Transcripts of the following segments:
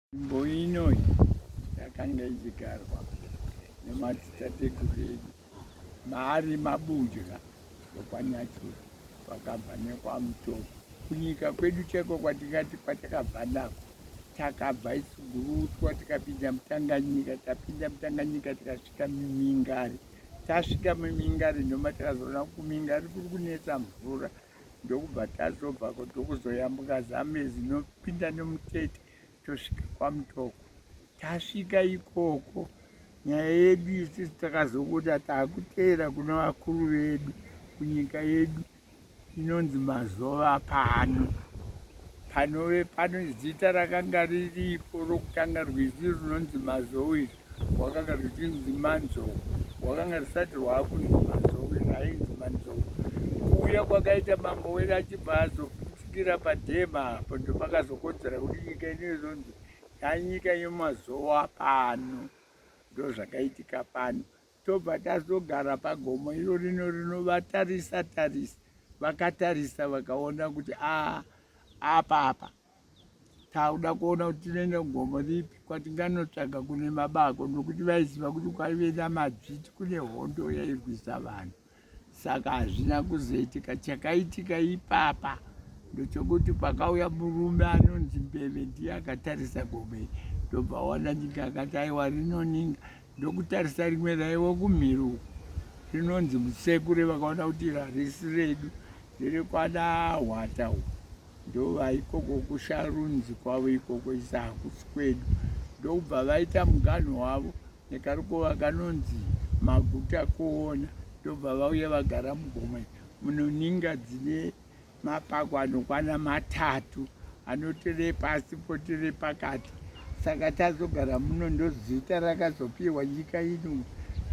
Nzvimbo inoyi yakanga ichigarwa nemadzitateguru edu maari mabunjura okwanyachura kwakabva nekwamutoro kunyika kwedu chaiko kwatingati kwatakabva nako takabva isugurutwa tikapinda mutanganyika tapinda mutanganyika tikasvika mumingari tasvika mumingari noma takazoona kumingari kuri kunetsa mvura ndokubva tazobvako tokuzoyambuka zamezi nopinda nomutete tosvika kwamutoko tasvika ikoko nyaya yedu isisi takazobuda taakuteera kuna vakuru vedu kunyika yedu inonzi mazova pano panove pano zita rakanga riripo rokutanga rwizi runonzi mazowe izvi wakanga zvichinzi manzou wakanga risati rwakunzi manzou zvainzi manzou kuuya kwakaita mambo were achibva azopfutikira padhema apo ndopakazokodzera kuti nyika inoizonzi yanyika yemazowa pano ndozvakaitika pano tobva tazogara pagomo iro rino rinovatarisa tarisa vakatarisa vakaona kuti a ah, apa apa tauda kuona kuti tinoenda kugomo ripi kwatinganotsvaga kune mabako nokuti vaiziva kuti kwaive namadzviti kune hondo yairwisa vanhu saka hazvina kuzoitika chakaitika ipapa ndochokuti pakauya murume anonzi mbeve ndiye akatarisa gomo iri ndobva waona nyika akati aiwa rinoninga ndokutarisa rimwe raiwo kumhiri uku rinonzi musekure vakaona kuti rarisi redu rerekwana hwata uku ndova ikoko kusharunzi kwavo ikoko isa hakusi kwedu ndokubva vaita muganho wavo nekarukova kanonzi maguta kuona ndobva vauya vagara mugomwe munoninga dzine Mapako anokwana matatu anotiri pasi potiri pakati saka tazogara muno ndozita rakazopiwa nyika ino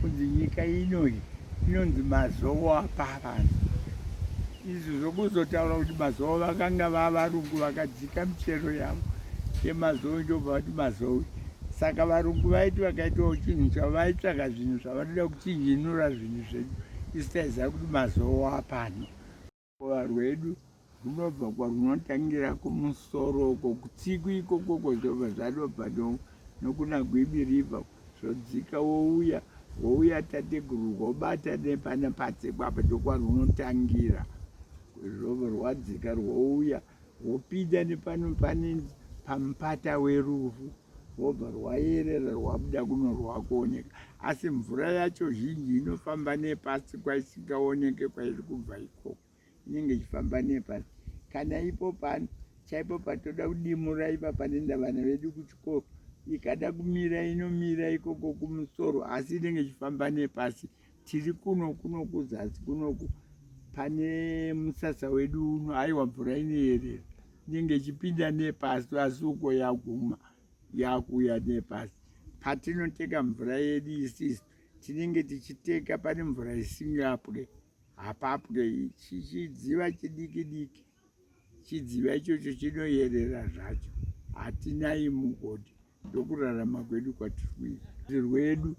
kunzi nyika inoyi inonzi mazowo apavana izvi zvokuzotaura kuti mazowo vakanga vavarungu vakadzika michero yavo yemazowe ndobva vati mazowe saka varungu vaiti vakaitawo chinhu chavo vaitsvaka zvinhu zvavanoda kuchinjinura zvinhu zvedu isi taiziva kuti mazowo apano Ruva rwedu runobva kwarunotangira kumusoro uko kutsiku ikoko kwozobva zvadopa nokuna gwibi river zvodzika wouya wouya tateguru rwobata nepana patsekwa apa ndokwarunotangira zvobva rwadzika rwouya wopinda nepano pane pampata werufu wobva rwayerera rwabuda kuno rwakuoneka asi mvura yacho zhinji inofamba nepasi kwaisingaoneke kwairi kubva ikoko inenge ichifamba nepasi kana ipo pano chaipo patoda kudimura ipapa nendavana vedu kuchikoro ikada kumira inomira ikoko kumusoro asi inenge ichifamba nepasi tiri kuno kuno kuzasi kunoku pane musasa wedu uno aiwa mvura inoyerera inenge ichipinda nepasi asi uko yaguma yakuuya nepasi patinoteka mvura yedu isisu tinenge tichiteka pane mvura isingapwe hapapwe chichidziva chidiki diki chidziva ichocho chinoyerera zvacho hatinayi mugodi ndokurarama kwedu kwatiri kuita zvirwedu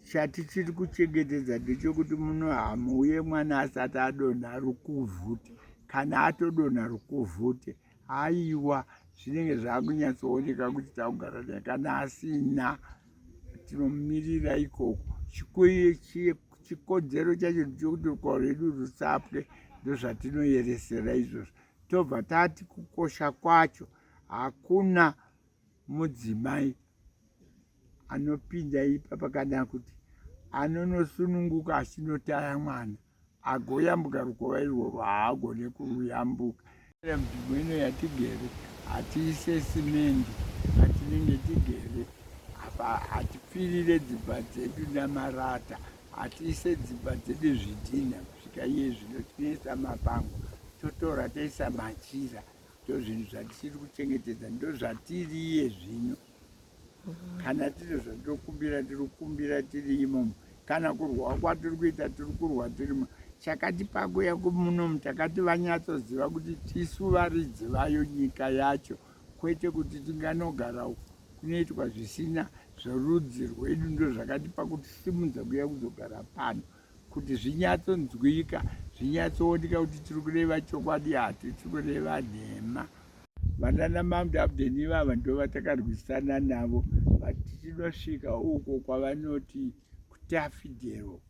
chatichiri kuchengetedza ndechokuti muno hamuuye mwana asati adonha rukuvhute kana atodonha rukuvhute haiwa zvinenge zvakunyatsooneka kuti takugara naye kana asina tinomirira ikoko chikoiye chiye chikodzero chacho ndechekuti ruko rwedu rusapwe ndozvatinoyeresera izvozvo tobva tati kukosha kwacho hakuna mudzimai anopinda ipa pakadana kuti anonosununguka achinotaya mwana agoyambuka rukova irworwo haagone kuyambuka nzvimbo ino yatigere hatiise simendi patinenge tigere apa hatipfirire dzimba dzedu namarata hatiise dzimba dzedu zvidhina kusvika iye zvino tinoisa mapango totora toisa machira ndozvinhu zvatisiri kuchengetedza ndozvatiriye zvino kana tiri zvatinokumbira tiri kukumbira tiri imomo kana kurwa kwatiri kuita tiri kurwa tirimo chakati pakuya kumunomu takati vanyatsoziva kuti tisu varidzi vayo nyika yacho kwete kuti tinganogara uku kunoitwa zvisina zvorudzi rwedu ndo zvakati pakutisimudza kuya kuzogara pano kuti zvinyatsonzwika zvinyatsooneka kuti tiri kureva chokwadi hatisi kureva nhema vanana mamdi abden ivava ndo vatakarwisana navo vati tinosvika uko kwavanoti kutafidero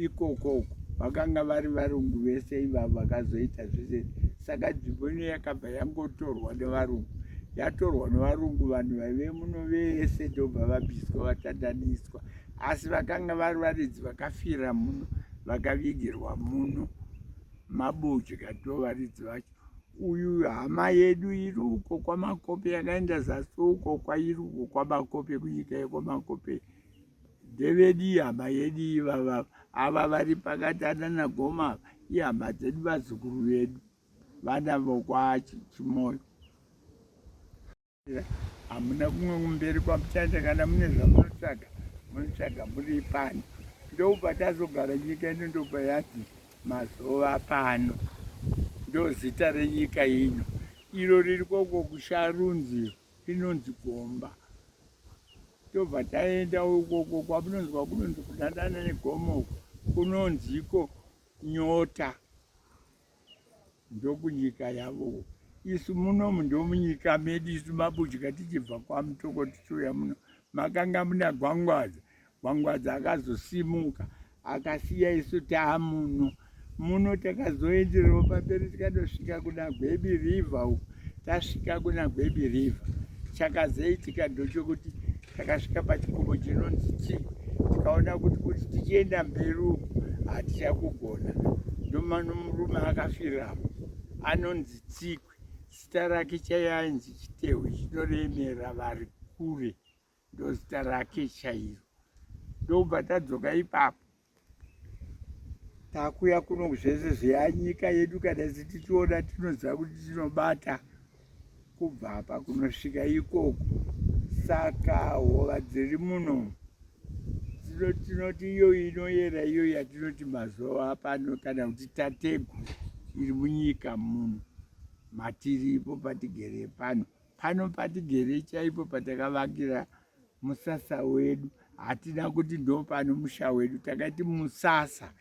ikoko uko vakanga vari varungu vese ivavo vakazoita zvese saka nzvimbo ino yakabva yangotorwa nevarungu yatorwa nevarungu vanhu vaive muno vese ndobva vabviswa vatandaniswa asi vakanga vari varidzi vakafira muno vakavigirwa muno mabodya to varidzi vacho uyu hama yedu iri uko kwamakope yakaenda zasi uko kwairi uko kwamakope kunyika yekwamakope ndevedi ihama yedu ivava ava vari pakati anana goma ihama dzedu vazukuru vedu vana vokwachimoyo hamuna kumwe kumberi kwamuchaenda kana mune zvamunotsvaga munotsvaga muri pano ndopatazogara nyika ino ndopa yati mazuva pano ndozita renyika ino iro riri koko kusharunzi inonzi gomba tobva taenda ukoko kwamunonzwa kunonzi kudanana negomo kunonziko nyota ndokunyika yavo isu munomu ndomunyika medu isu mabudya tichibva kwamutoko tichiuya muno makanga muna gwangwadza gwangwadza akazosimuka akasiya isu taamuno muno takazoenderero pamberi tikadosvika kuna gwebi river uku tasvika kuna gwebi river chakazoitika ndochokuti takasvika pachikomo chinonzi chii tikaona kuti kuti tichienda mberi uku hatichakugona ndomano murume akafiramo anonzi tsikwe zita rake chaiye ainzi chitehwe chinoremera vari kure ndozita rake chairo ndobva tadzoka ipapo takuya kuno zvese zveyanyika yedu kana sitichiona tinoziva kuti tinobata kubva apa kunosvika ikoko saka hova dziri muno tinoti iyo inoyera iyo yatinoti mazuva apano kana kuti tategu iri munyika muno matiripo patigere pano pano patigere chaipo patakavakira musasa wedu hatina kuti ndo pano musha wedu takaiti musasa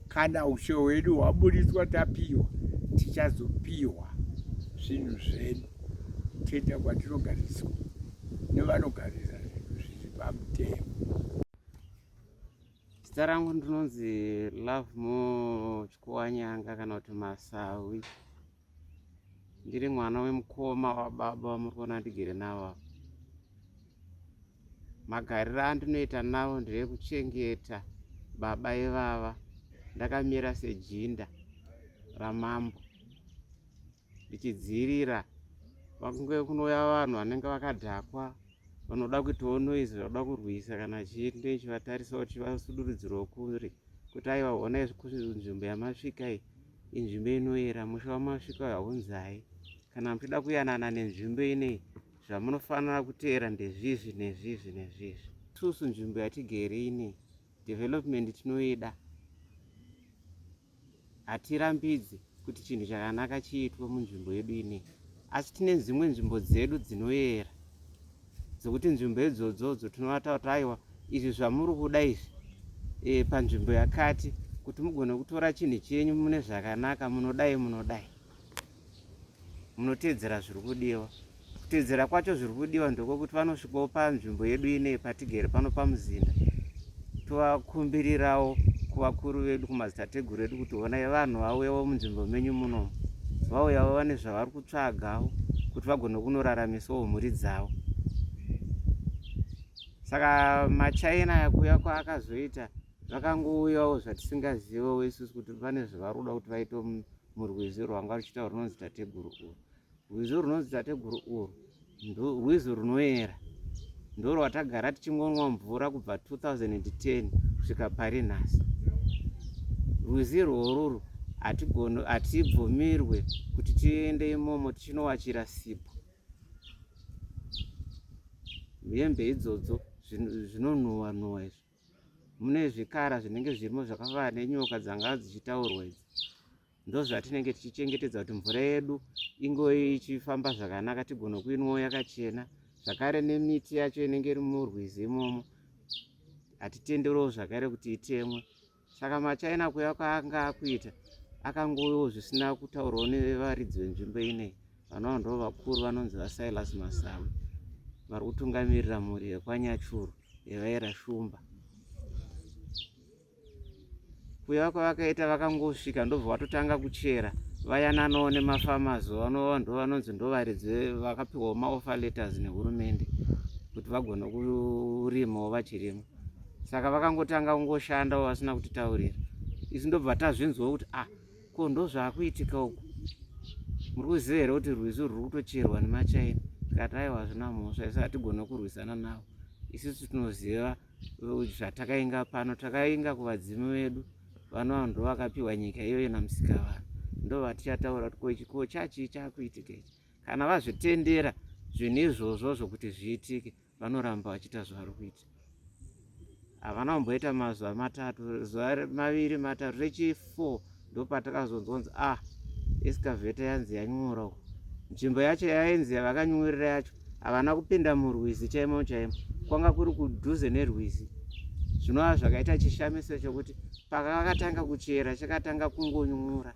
kana ushe hwedu hwaburitswa tapiwa tichazopiwa zvinhu zvedu toita kwatinogariswa nevanogarisa zvinhu zviri pamutemo zita rangu ndinonzi love mo chikuwanyanga kana kuti masawi ndiri mwana wemukoma wababa wamuri kuona ndigere navo ava magariro andinoita navo ndeyekuchengeta baba ivava ndakamira sejinda ramambo ndichidziirira vakunge kunouya vanhu vanenge vakadhakwa vanoda kuitawo noizi vanoda kurwisa kana chii ndechivatarisa kuti vasudurudzirwo kuri kuti aiva honai nzvimbo yamasvika iyi Inzvimbo inoyera musha wamasvika haunzai. Kana muchida kuyanana nenzvimbo inei, zvamunofanira kuteera ndezvizvi nezvizvi nezvizvi. Itusu nzvimbo yatigere ine development tinoida, hatirambidzi kuti chinhu chakanaka chiitwe munzvimbo yedu inei, asi tine dzimwe nzvimbo dzedu dzinoyera. dzekuti nzvimbo idzodzo dzotinovata kuti aiwa izvi zvamuri kuda izvi e, panzvimbo yakati kuti mugone kutora chinhu chenyu mune zvakanaka munodai munodai munoteedzera zviri kudiwa kuteedzera kwacho zviri kudiwa ndokwekuti vanosvikawo panzvimbo yedu inei patigere pano pamuzinda tovakumbirirawo kuvakuru vedu kumadzitateguru edu kuti honai vanhu vauyawo munzvimbo menyu muno vauyawo vane zvavari kutsvagawo kuti vagone kunoraramisawo mhuri dzavo saka machaina kuya kwaakazoita zvakangouyawo zvatisingazivewo isusu kuti pane zvavari kuda kuti vaite murwizi rwanga ruchiita rwunonzi tateguru uru Rwizi runonzi tateguru urwu rwizi runoyera ndorwatagara tichingonwa mvura kubva 2010 kusvika pari nhasi rwizi rworuru hatibvumirwe kuti tiende imomo tichinowachira sipo hembe idzodzo zvinonhuwa nhuwa izvi mune zvikara zvinenge zvirimo zvakavara nenyoka dzanga dzichitaurwa idzi ndozvatinenge tichichengetedza kuti mvura yedu ingo ichifamba zvakanaka tigone kuinwawo yakachena zvakare nemiti yacho inenge iri murwizi imomo hatitenderewo zvakare kuti itemwe saka machaina kuya kwaanga akuita akangovewo zvisina kutaurwawo nevaridzi venzvimbo inei vanova ndo vakuru vanonzi vasilas masawi vari kutungamirira mhuri yekwanyachuru yavaera shumba kuya kwavakaita vakangosvika ndobva vatotanga kuchera vayananawo nemafamazi vanova ndo vanonzi ndovaridzi vakapiwawo maoffer letters nehurumende kuti vagone kurimawo vachirima saka vakangotanga kungoshandawo vasina kutitaurira isu ndobva tazvinzwa kuti ah Ko ndozvakuitika uku. Muri kuziva here kuti rwizi ruri kutocherwa nemachaina? Tikati aiwa hazvina mhosva isu hatigone kurwisana navo. Isusu tinoziva zvatakainga pano takainga kuvadzimu vedu vanova ndo vakapiwa nyika iyoyo namusika vanhu ndo vatichataura kuti ko chachii chakuitika ichi kana vazvitendera zvinhu izvozvo zvokuti zviitike vanoramba vachiita zvavari kuita havana kumboita mazuva matatu zuva maviri matatu rechifour ndopatakazonzonzi ah escaveta yanzi yanyura uku nzvimbo yacho yainzi yavakanyurira yacho havana kupinda murwizi chaimo chaimo kwanga kuri kudhuze nerwizi zvinova zvakaita chishamiso chokuti pakavakatanga kuchera chakatanga kungonyura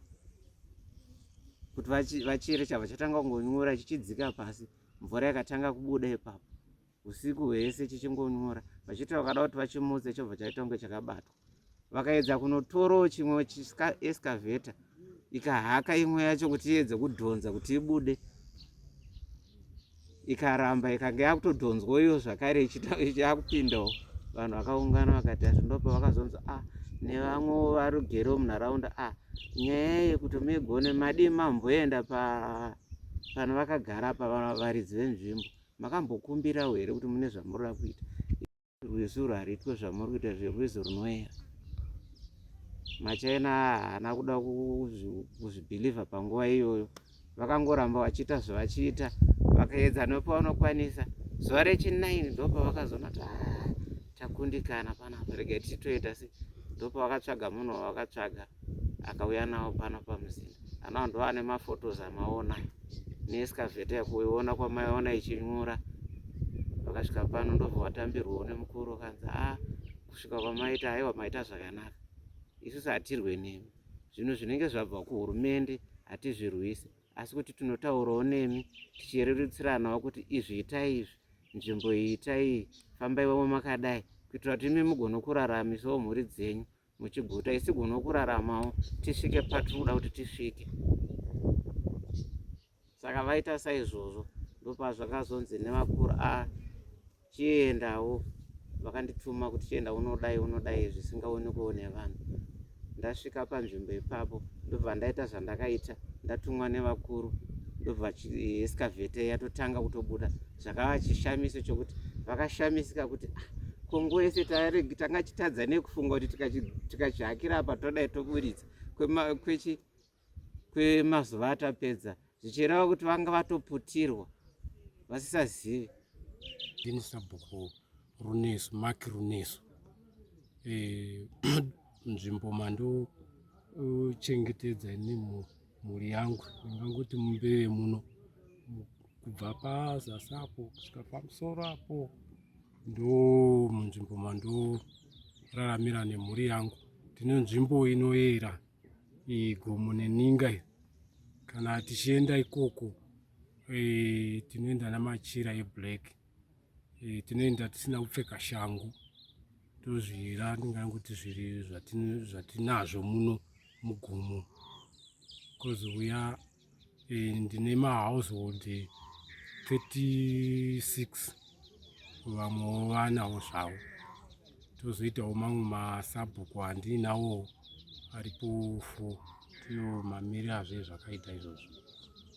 kuti vachere chava chatanga kungonyura chichidzika pasi mvura yakatanga kubuda ipapo usiku hwese chichingonyora vachitaura kada kuti vachimutse chobva chaita kunge chakabatwa vakaedza kunotorawo chimwe escaveta ikahaka imwe yacho kuti iedze kudhonza kuti ibude ikaramba ikange yakutodhonzwa iyo zvakare ichakupindawo vanhu vakaungana vakati asi ndopa vakazonzi a ah, nevamwe varugere munharaunda a ah, nyaya yekuti migone madii mamboenda pa pano vakagara apa varidzi venzvimbo makambokumbirawo here kuti mune zvamuri ra kuita rwizi uru hariitwe zvamuri kuita zverwizi runoera machina haana kuda kuzvibhilivha panguva iyoyo vakangoramba vachiita zvevachiita vakaedza nepavanokwanisa zuva rechinaini ndopavakazoona kuti ah, takundikana panapa rega tichitoita se ndopavakatsvaga munhu wavakatsvaga akauya nawo pano pamuzinda anao ndo ane mafotos amaona neeskavheta yakuiona kwamaiona ichinyura vakasvika pano ndobva vatambirwawo nemukuru kanzi a ah, kusvika kwamaita aiwa maita zvakanaka isusu hatirwe nemi zvinhu zvinenge zvabva kuhurumende hatizvirwise asi kuti tinotaurawo nemi tichirerutsiranawo kuti izvi itai izvi nzvimbo iyi itai iyi fambaiwavo makadai kuitira kuti imi mugonokuraramisawo mhuri dzenyu muchiguta isi gona kuraramawo tisvike patiri kuda kuti tisvike saka vaita saizvozvo ndopazvakazonzi nevakuru a ah, chiendawo vakandituma kuti chienda unodai unodai zvisingaonekwewo nevanhu ndasvika panzvimbo ipapo ndobva ndaita zvandakaita ndatumwa nevakuru ndobva escavate yatotanga kutobuda zvakava chishamiso chokuti vakashamisika kuti ah, kongo yese tanga chitadza nekufunga kuti tikachihakira apa todai toburitsa kwemazuva atapedza zvichireva kuti vanga vatoputirwa vasisazivi ndini sabhuku runesu mak runesu eh, nzvimbo mandochengetedza e, nemhuri mhuri yangu ingangoti mumbeve muno kubva pazasi apo kusvika pamusoro apo ndo munzvimbo mandoraramira nemhuri yangu tine nzvimbo inoyera igomo neninga iyo kana tichienda ikoko e, tinoenda namachira eblack e, tinoenda tisina kupfeka shangu tozvira ndingani kuti zviri zvatinazvo muno mugomo bcause uya eh, ndine mahousehold 36 vamwewo vanawo zvavo tozoitawo mamwe masabhuku andinawo aripo fo tino mamiri azve zvakaita izvozvo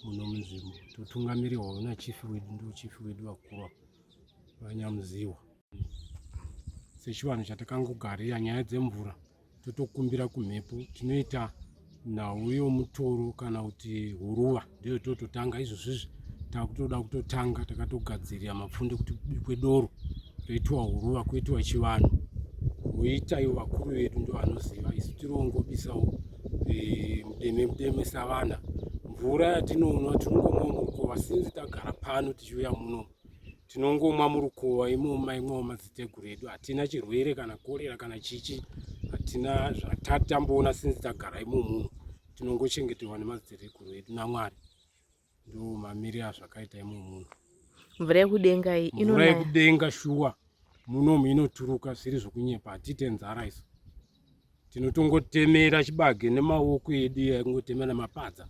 muno munzvimbo totungamirihwawo nachifi wedu ndochifi wedu vakuru vanyamuziwa sechivanhu chatakangogarira nyaya dzemvura totokumbira kumhepo tinoita nhau yomutoro kana kuti huruva ndiyo tototanga izvozvizvi takutoda kutotanga takatogadzirira mapfunde kuti kubikwe doro roitiwa huruva kuitiwa chivanhu woita ivo vakuru vedu ndo vanoziva isu tirongobisawo eh, mudeme mudeme savana mvura yatinonwa tinongomwa murukova sinzi tagara pano tichiuya muno tinongomwa murukuva imoma imwawo madziteguru edu hatina chirwere kana korera kana chichi hatina zvatatamboona sinzi tagara imomuno tinongochengetewa nemadziteguru edu namwari ndo mamiri azvakaita imomuno mvura yekudenga iyi mvura yekudenga shuwa munomu inoturuka zviri zvekunyepa hatite nzara isu tinotongotemera chibage nemaoko edu yaingotemera nemapadza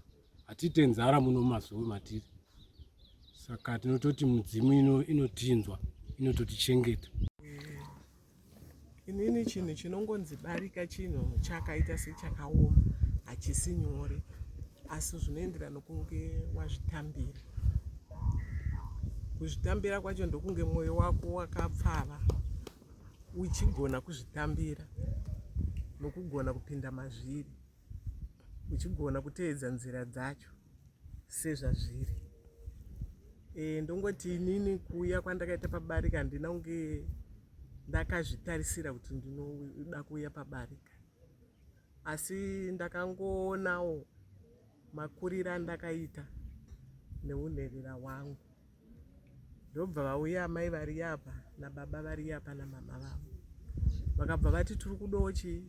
hatiite nzara muno mazuva matiri saka tinototi mudzimu ino inotinzwa inototichengeta inini chinhu chinongonzi barika chinhu chakaita sechakaoma hachisi nyore asi zvinoenderana nokunge wazvitambira kuzvitambira kwacho ndokunge mwoyo wako wakapfava uchigona kuzvitambira nokugona kupinda mazviri uchigona kutevedza nzira dzacho sezvazviri e, ndongoti inini kuuya kwandakaita pabarika handina kunge ndakazvitarisira kuti ndinoda kuuya pabarika asi ndakangoonawo makuriro andakaita neunherera hwangu ndobva vauya amai variya apa nababa variya apa namama vavo vakabva vati tiri kudawo chii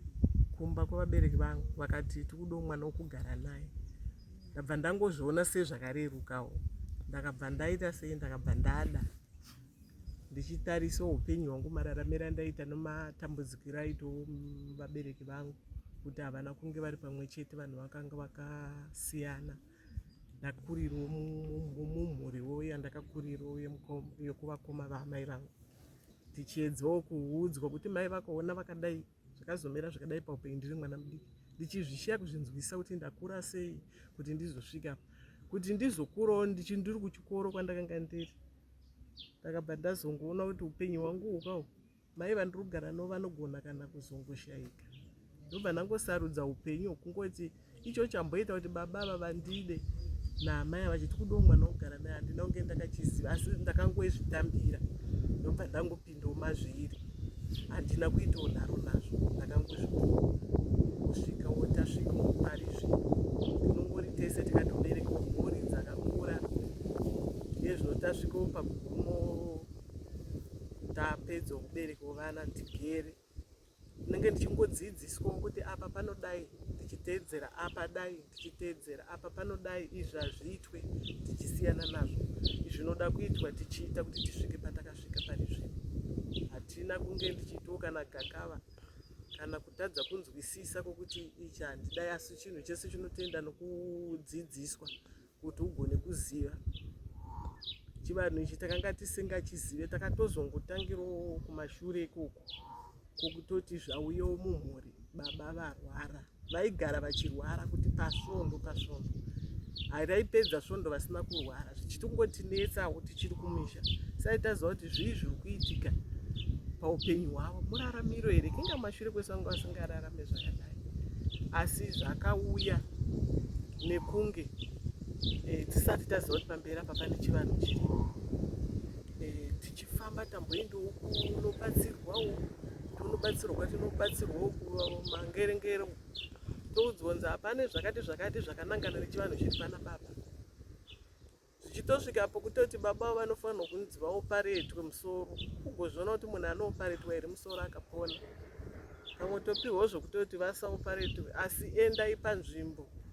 kumba kwevabereki vangu vakati tiri kudawo mwana wokugara naye ndabva ndangozviona sei zvakarerukawo ndakabva ndaita sei ndakabva ndada ndichitarisa upenyu hwangu mararamiro andaita nematambudzikiro aito vabereki vangu kuti havana kunge vari pamwe chete vanhu vakanga vakasiyana vaka ndakurirwo mumhuriwo yandakakurirwo yekuvakoma vaamai vangu tichiedzawo kuudzwa kuti mai vakaona vakadai zvakazomera zvakadai paupenyu ndiri mwana mudiki ndichizvishiya kuzvinzwisa kuti ndakura sei kuti ndizosvika kuti ndizokurawo ndichindiri kuchikoro kwandakanga ndiri ndakabva ndazongoona kuti upenyu hwangu hukahwo Mai vandirugara no vanogona kana kuzongoshaika ndobva ndangosarudza upenyu hwokungoti icho chamboita kuti baba ava vandide naamai ava chiti kudiwo mwana wogara naye handina kunge ndakachiziva asi ndakangozvitambira ndobva ndangopindawo mazviri handina kuitawo nharo nazvo ndakangozvipuwa kusvika wotasvika mupari zvi tinongori tese tikatobereka mhuri dzakakura nezvinotasvikawo pagumo ndapedzwa kuberekwa vana ndigere ndinenge ndichingodzidziswa kuti apa panodai ndichiteedzera apa dai ndichiteedzera apa panodai izvi hazviitwe tichisiyana nazvo zvinoda kuitwa tichiita kuti tisvike patakasvika pane zvino hatina kunge ndichiitiwo kana gakava kana kutadza kunzwisisa kwokuti ichi handidai asi chinhu chese chinotoenda nokudzidziswa kuti ugone kuziva chivanhu ichi takanga tisingachizive takatozongotangirawo kumashure ikoko kokutoti zvauyewo mumhuri baba varwara vaigara vachirwara kuti pasvondo pasvondo hai raipedza svondo vasina kurwara zvichitongotinetsa kuti chiri kumisha sai taziva kuti zvii zviri kuitika paupenyu hwavo muraramiro here kinga mashure kwesanga vasingararame zvakadai asi zvakauya nekunge eh, tisati taziva kuti pamberi apa pane chivanhu chirimo eh, tichifamba tamboendawo kunobatsirwawo tonobatsirwa kwatinobatsirwawo kumangerengero toudzwa kunzi hapane zvakati zvakati zvakanangana nechivanhu chiri pana baba zvichitosvika apo kutoti baba avo vanofanirwa kunzi vaoparetwe musoro kugozviona kuti munhu anooparetwa here musoro akapona pamwe topiwawo zvokutoti vasaoparetwe asi endai panzvimbo